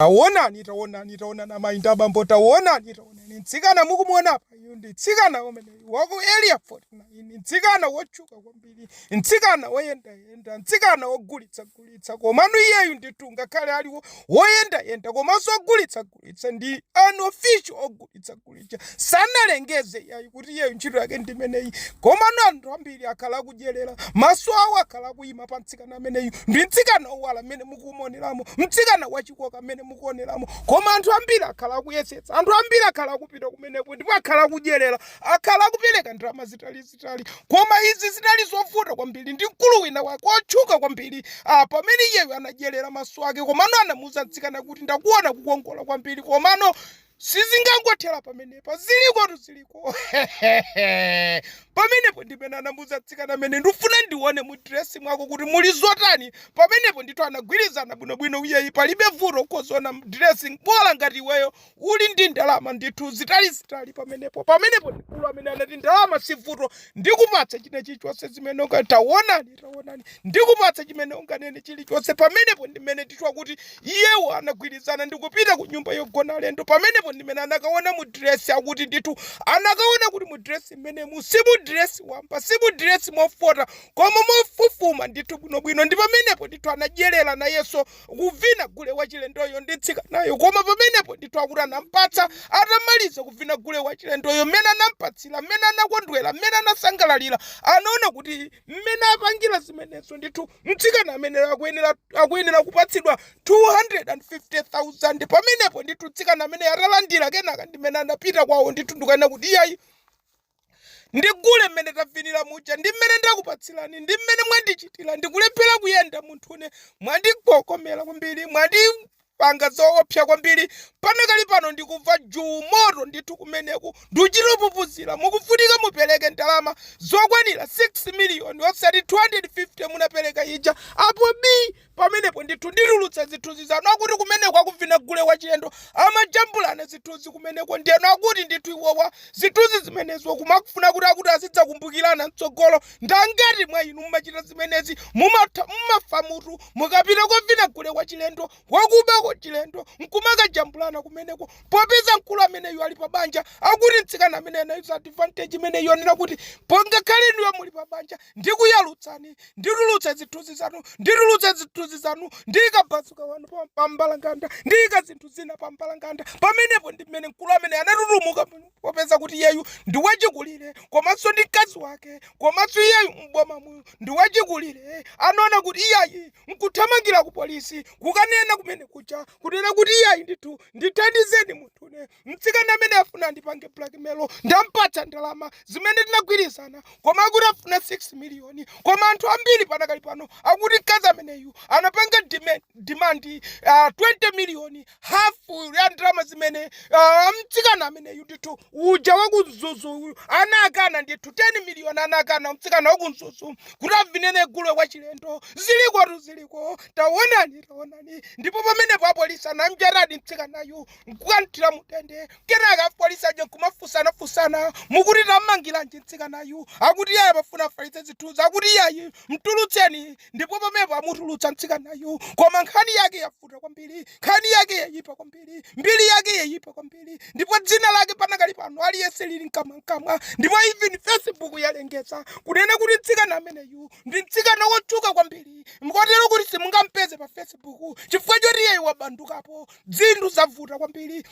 Taonani, taonani, taonani, amayi ndi abambo, taonani, taonani, mtsikana mukumuona apayu ndi mtsikana umeneyu wa ku Area 49, mtsikana wotchuka kwambiri, mtsikana woyendayenda, mtsikana wogulitsagulitsa, komano iyeyu ndithu ngakhale ali woyendayenda komanso wogulitsagulitsa ndi unofficial ogulitsagulitsa. ogulitsa sanalengeze yayi kuti iyeyo ntchito yake ndimeneyi komano anthu ambiri akhala akudyerera maso awo akhala akuyima pa mtsikana ameneyu ndi mtsikana owala amene mukumuoneramo mtsikana wachikoka amene mukuoneramo koma anthu ambiri akhala akuyesetsa anthu ambiri akhala akupita kumeneko ndipo akhala akudyerera akhala akupereka ndalama zitalizitali koma izi zinali zovuta kwambiri ndi mkulu wina wake otchuka kwambiri ah, pamene iyeyo anadyerera maso ake komano anamuuza mtsikana kuti ndakuona kukongola kwambiri komano sizingangothera pamenepa zilikotu ziliko pamenepo ndimene anamuuza mtsikana amene ndifuna ndione mu dresi mwako kuti muli zotani pamenepo ndithu anagwirizana bwinobwino iyayi palibe vuto kuona mu dresi bola ngati iweyo uli ndi ndalama ndithu zitalizitali pamenepo pamenepo mkulu amene anati ndalama si vuto ndikupatsa china chilichonse zimene ukataonani taonani ndikupatsa chimene unganene chilichonse pamenepo ndimene tikumva kuti iyewo anagwirizana ndikupita ku nyumba yogona alendo pamenepo ndimene anakaona mu diresi akuti ndithu anakaona kuti mu diresi mmenemu si mu diresi wamba si mu diresi mofota koma mofufuma ndithu bwinobwino ndi pamenepo ndithu anadyerera nayenso kuvina gule wachilendoyo ndi mtsikanayo koma pamenepo ndithu akuti anampatsa atamaliza kuvina gule wachilendoyo mmene anampatsira mmene anakondwera mmene anasangalalira anaona kuti mmene apangira zimenezo ndithu mtsikana ameneyo akuyenera akuyenera kupatsidwa 250,000 pamenepo ndithu mtsikana amene atalandira kenaka ndimene anapita kwawo ndithu ndikunena kuti iyayi ndi gule mmene tavinira muja ndi mmene ndakupatsirani ndi mmene mwandichitira ndikulephera kuyenda munthune mwandigokomera kwambiri mwandi panga zoopsa kwambiri panakali pano ndikumva juu moto ndithu kumeneku ndikuchita kupupuzira mukufunika mupereke ndalama zokwanira 6 miliyoni osati 250 munapereka ija apo bi pamenepo ndithu nditulutsa zithunzi zanu akuti kumeneko akuvina gule wachilendo amajambulana zithunzi kumeneko ndiyeno akuti ndithu iwowa zithunzi zimenezo kumakufuna kuti akuti azidzakumbukirana mtsogolo ndangati mwa inu mumachita zimenezi mumafa mumafa mutu Mukapita kovina gule kwachilendo, wakuba wachilendo, nkumakajambulana kumeneko popeza mkulu ameneyu ali pa banja, akuti mtsikana ameneyu anayuza advantage imeneyi yonena kuti pongakhale inuyo muli pa banja, ndikuyalutsani, nditulutsa zithunzi zanu, nditulutsa zithunzi zanu, ndiika bazuka wanu pa pa mbalanganda, ndiika zinthu zina pa mbalanganda. Pamenepo ndimene mkulu ameneyu anatutumuka muno. popeza kuti iyeyu ndi wachikulire komanso ndi mkazi wake komanso iyeyu m'bomamu ndi wachikulire anaona kuti iyayi nkuthamangira ku polisi kukanena kumeneku cha kunena kuti iyayi ndithu ndithandizeni munthune mtsikana amene afuna andipange blackmail ndampatsa ndalama zimene tinagwirizana koma akuti afuna 6 miliyoni koma anthu ambiri panakali pano akuti mkazi ameneyu anapanga demand, demand uh, 20 miliyoni hafu ya ndalama zimene ah, mtsikana ameneyu ndithu uja waku Mzuzu uyu anakana ndithu 10 miliyoni anakana mtsikana waku Mzuzu kuti avinene gule wachilendo zilikotu ziliko taonani taonani ndipo pamenepo apolisi anamnjatadi mtsikanayu nkukamthira m'ndende kenaka apolisi aja nkumafusanafusana mukuti tammangiranji mtsikanayu akuti iyayi amafuna afalitse zithunzi akuti iyayi mtulutseni ndipo pamenepo amutulutsa mtsikanayu koma nkhani yake ya yavuta kwambiri nkhani yake yayipa kwambiri mbiri yake yayipa kwambiri ndipo dzina lake panakali pano aliyense lili mkamwamkamwa ndipo even facebook yalengeza kunena kuti mtsikana ameneyu ndi mtsikana wotchuka kwambiri mkotero kuti simungampeze pa facebook chifukwa choti iyeyu wabandukapo zinthu zavuta kwambiri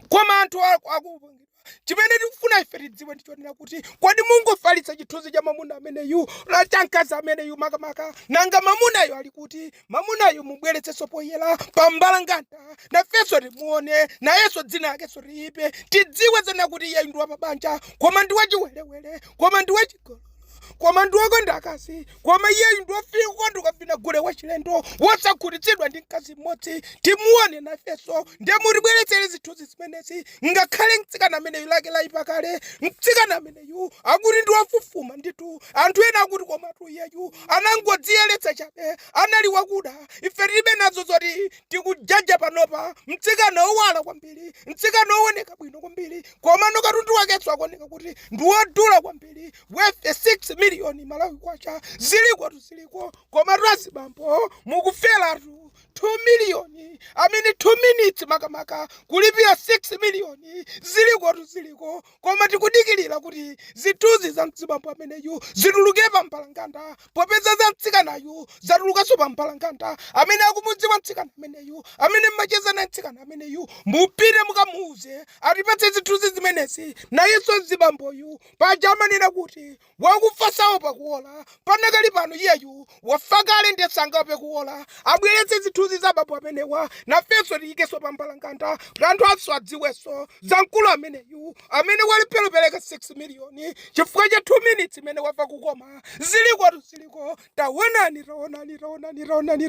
koma anthu akupangidwa chimene tikufuna ife tidziwe ndichonena kuti kodi mungofalitsa chithunzi cha mamuna ameneyu la cha mkazi ameneyu makamaka nanga mamunayo ali kuti mamunayo mubweretsenso poyera pa mbalambanda nafenso timuone nayenso dzina lakenso liyipe tidziwe zona kuti iyeyu ndi wapabanja koma ndi wachiwerewere koma ndi wachigolo koma ndi wokonda akazi koma iyeyu ndi wofika kukonda kukavina gule wachilendo wosakhutitsidwa ndi mkazi mmodzi timuone nafenso ndiye mutibweretsere zithunzi zimenezi ngakhale mtsikana ameneyu lake layipa kale mtsikana ameneyu akuti ndi wofufuma ndithu anthu ena akuti komatu iyeyu anangodziyeretsa chabe anali wakuda ife tilibe nazo zoti tikujaja panopa mtsikana owala kwambiri mtsikana owoneka bwino kwambiri komano katundu wakenso akuoneka kuti ndi wodula kwambiri worth 6 million malawi kwacha zilikotu ziliko komatu azibambo mukuferatu 2 miliyoni amene 2 minutes makamaka kulipira 6 miliyoni zilikotu ziliko koma tikudikirira kuti zithunzi za mzibambo ameneyu zituluke pa mbalambanda Popeza za mtsikanayu zatulukanso pa mbalambanda, amene akumudziwa mtsikana ameneyu, amene mmacheza naye mtsikana ameneyu, mupite mukamuuze atipatse zithunzi zimenezi. Nayenso mzibamboyu, paja amanena kuti wakufa saopa kuwola, panakali pano iyeyu wafa kale ndiye sangaope kuwola. Abweretse zithunzi za abambo amenewa nafenso tiyikenso pa mbalambanda kuti anthuanso adziwenso za mkulu ameneyu amene walephera kupereka 6 miliyoni chifukwa cha 2 minitsi imene wamva kukoma. ziliko tu ziliko taonani taonani taonani taonani taonani